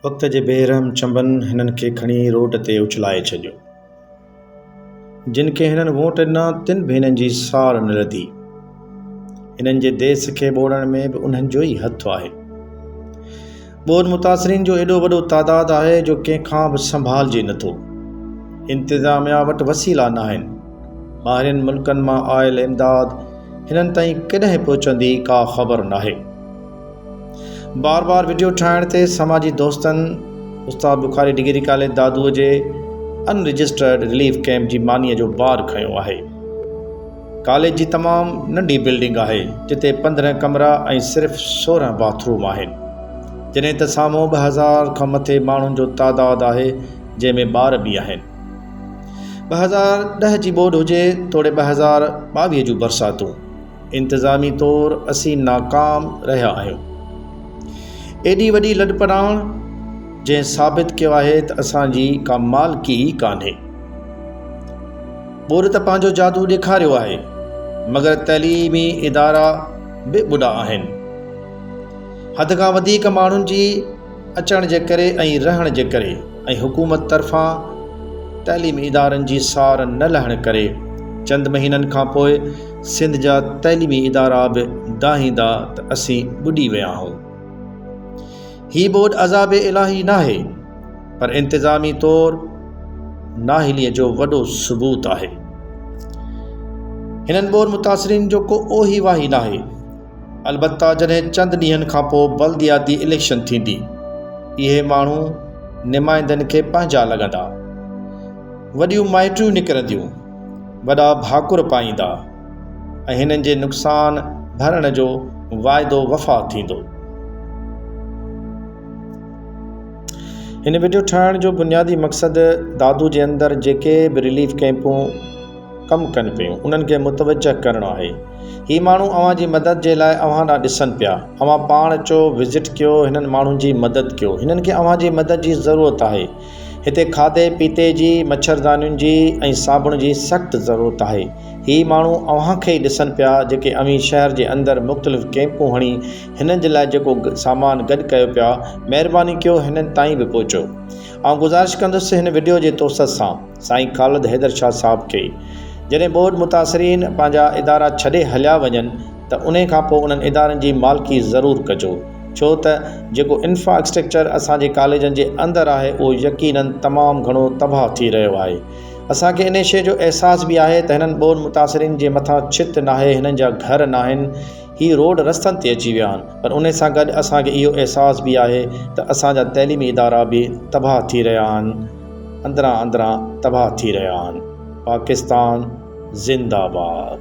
وقت جي بي رحم چنبن هنن کي کڻي روڊ تي اڇلائي ڇڏيو. جن کي هنن ووٽ ڏنا تن به هنن جي ساڙ نه لڌي. هنن جي ديس کي ٻوڙڻ ۾ به انهن جو ئي هٿ آهي. ٻوڏ متاثرين جو ايڏو وڏو تعداد آهي جو ڪنهن کان به سنڀالجي نه ٿو. انتظاميا وٽ وسيلا ناهن. ٻاهرين ملڪن مان آيل امداد هنن تائين ڪڏهن پهچندي ڪا خبر ناهي. بار بار وڊيو ٺاهڻ تي سماجي دوستن استاد بخاري ڊگري ڪاليج دادوء جي ان رجسٽرڊ رليف ڪيمپ جي مانيء جو بار کنيو آهي ڪاليج جي تمام ننڍي بلڊنگ آهي جتي پندرهن ڪمرا ۽ صرف سورهن باٿ روم آهن جڏهن ته سامهون ٻه هزار کان مٿي ماڻهن جو تعداد آهي جنهن ۾ ٻار به آهن ٻه هزار ڏهه جي ٻوڏ هجي توڙي ٻه هزار ٻاويهه جون برساتون انتظامي طور اسين ناڪام رهيا آهيون. ايڏي وڏي لڏپلاڻ جنهن ثابت ڪيو آهي ته اسان جي ڪا مالڪي ئي ڪانهي. ٻوڏ ته پنهنجو جادو ڏيکاريو آهي مگر تعليمي ادارا به ٻڏا آهن. حد کان وڌيڪ ماڻهن جي اچڻ جي ڪري ۽ رهڻ جي ڪري ۽ حڪومت طرفان تعليمي ادارن جي سار نه لهڻ ڪري چند مهينن کان پوء سنڌ جا تعليمي ادارا به دانهيندا ته اسين ٻڏي ويا آهون. هي ٻوڏ عذاب الاهي ناهي پر انتظامي طور نااهليء جو وڏو ثبوت آهي. هنن ٻوڏ متاثرين جو ڪو اوهي واهي ناهي. البته جڏهن چند ڏينهن کان پوء بلدياتي اليڪشن ٿيندي اهي ماڻهو نمائندن کي پنهنجا لڳندا. وڏيون مائٽريون نڪرنديون. وڏا ڀاڪر پائيندا ۽ هنن جي نقصان ڀرڻ جو واعدو وفا ٿيندو. هن وڊيو ٺاهڻ جو بنيادي مقصد دادو جي اندر جيڪي به رليف ڪئمپون ڪم ڪن پيون انهن کي متوجه ڪرڻو آهي. هي ماڻهو اوهان جي مدد جي لاء اوهان ڏانهن ڏسن پيا. اوهان پاڻ اچو وزٽ ڪيو هنن ماڻهن جي مدد ڪيو هنن کي اوهان جي مدد جي ضرورت آهي. هتي کاڌي پيتي جي، مڇردانين جي ۽ صابڻ جي سخت ضرورت آهي. هي ماڻهو اوهان کي ئي ڏسن پيا جيڪي اوهين شهر جي اندر مختلف ڪيمپون هڻي هنن جي لاء جيڪو سامان گڏ ڪيو پيا، مهرباني ڪيو هنن تائين به پهچو. آئون گذارش ڪندس هن وڊيو جي توسط سان سائين خالد حيدر شاهه صاحب کي جڏهن ٻوڏ متاثرين پنهنجا ادارا ڇڏي هليا وڃن ته انهي کان پوء انهن ادارن جي مالڪي ضرور ڪجو ڇو ته جيڪو انفرا اسٽرڪچر اسان جي ڪاليجن جي اندر آهي اهو يقيناً تمام گهڻو تباهه ٿي رهيو آهي اسان کي انهي شيء جو احساس به آهي ته هنن ٻون متاثرين جي مٿان ڇت ناهي هنن جا گهر ناهن هي روڊ رستن تي اچي ويا آهن پر انهي سان گڏ اسان کي اهو احساس به آهي ته اسان جا تعليمي ادارا به تباهه ٿي رهيا آهن اندران اندران تباهه ٿي رهيا آهن پاڪستان زنداباد.